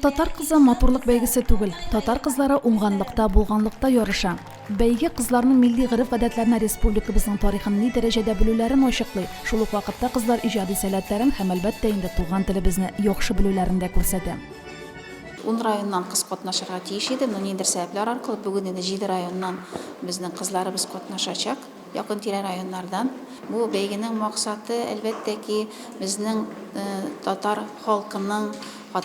Татар кызы матурлык бәйгесе түгел, татар кызлары уңганлыкта, булганлыкта ярыша. Бәйге кызларның милли гореф-гадәтләрне, республикабызның тарихын ни дәрәҗәдә белүләрен ачыклый, шул ук вакытта кызлар иҗади сәләтләрен һәм, әлбәттә инде, туган телебезне яхшы белүләрен дә күрсәтә. Ун районнан кыз катнашырга тиеш иде, но ниндидер сәбәпләр аркылы бүген инде җиде районнан безнең кызларыбыз катнашачак. Якын-тирә районнардан. Бу бәйгенең максаты, әлбәттә ки, безнең татар халкының,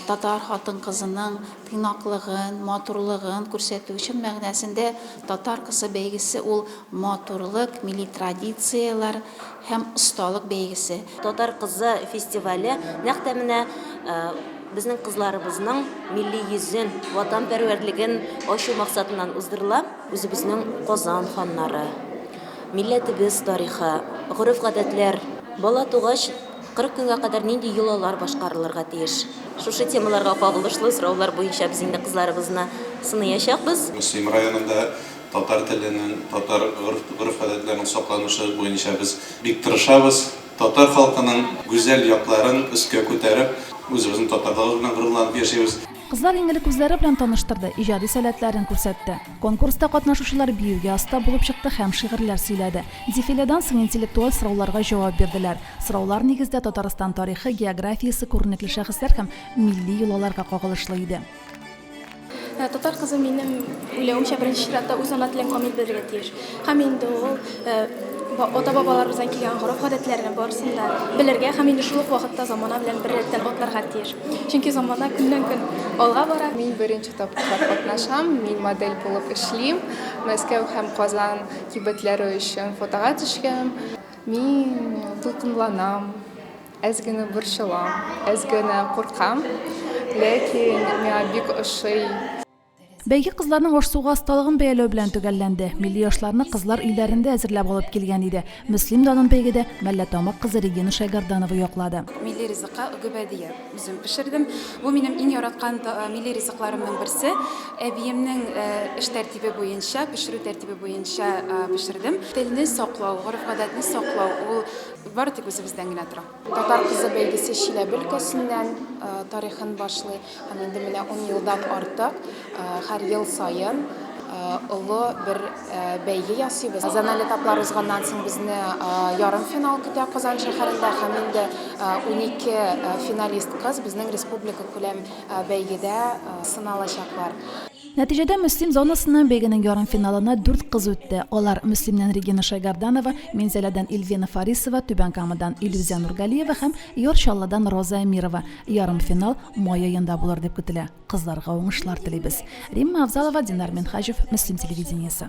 татар хатын-кызының тыйнаклыгын, матурлыгын күрсәтү. Чын мәгънәсендә Татар кысы бәйгесе ул матурлык, милли традицияләр һәм осталык бәйгесе. Татар кызы фестивале нәкъ тә менә безнең кызларыбызның милли йөзен, ватанпәрвәрлеген ачу максатыннан уздырыла. Үзебезнең Казан ханнары, милләтебез тарихы, гореф-гадәтләр. Бала тугач, 40 көнгә кадәр нинди йолалар башкарылырга тиеш? Шушы темаларга кагылышлы сораулар буенча без инде кызларыбызны сыныячакбыз. Мөслим районында татар теленең, татар гореф-гадәтләренең сакланышы буенча без бик тырышабыз. Татар халкының гүзәл якларын өскә күтәреп, үзебезнең татарлыгыбыз белән горурланып яшибез. Кызлар иң элек үзләре белән таныштырды, иҗади сәләтләрен күрсәтте. Конкурста катнашучылар биюгә оста булып чыкты һәм шигырьләр сөйләде. Дефиледан соң интеллектуаль сорауларга җавап бирделәр. Сораулар нигездә Татарстан тарихы, географиясе, күренекле шәхесләр һәм милли йолаларга кагылышлы иде. Татар кызы минем уйлавымча, беренче чиратта үз ана телен камил белергә тиеш. Һәм инде ул ата-бабаларыбыздан килгән гореф-гадәтләрне барысын да белергә һәм инде шул ук вакытта замана белән бер рәттән атларга тиеш. Чөнки замана көннән-көн алга бара. Мин беренче тапкыр катнашам, мин модель булып эшлим. Мәскәү һәм Казан кибетләре өчен фотога төшкән. Мин дулкынланам, әз генә борчылам, әз генә куркам, ләкин миңа бик ошый. Бәйге кызларның аш-суга осталыгын бәяләү белән төгәлләнде. Милли ашларны кызлар өйләрендә әзерләп алып килгән иде. Мөслим данын бәйгедә Мәллә Тамак кызы Регина Шәйгәрданова яклады. Милли ризыкка гөбәдия үзем пешердем. Бу минем иң яраткан милли ризыкларымның берсе. Әбиемнең эш тәртибе буенча, пешерү тәртибе буенча пешердем. Телне саклау, гореф-гадәтне саклау, ул бары тик үзебездән генә тора. Татар кызы бәйгесе Чиләбе өлкәсеннән тарихын башлый һәм инде менә ун елдан артык һәр ел саен олы бер бәйге ясыйбыз. Зональ этаплар узганнан соң безне ярымфинал көтә Казан шәһәрендә һәм инде унике финалист кыз безнең республика күләм бәйгедә сыналачаклар. Нәтиҗәдә Мөслим зонасыннан бәйгенең ярымфиналына дүрт кыз үтте. Алар, Мөслимнән Регина Шәйгарданова, Минзәләдән Ильвина Фарисова, Түбән Камадан Илүзә Нургалиева һәм Яр Чаллыдан Роза Әмирова. Ярымфинал май аенда булыр дип көтелә. Кызларга уңышлар телибез. Римма Авзалова, Динар Минһаҗев, Мөслим телевидениесе.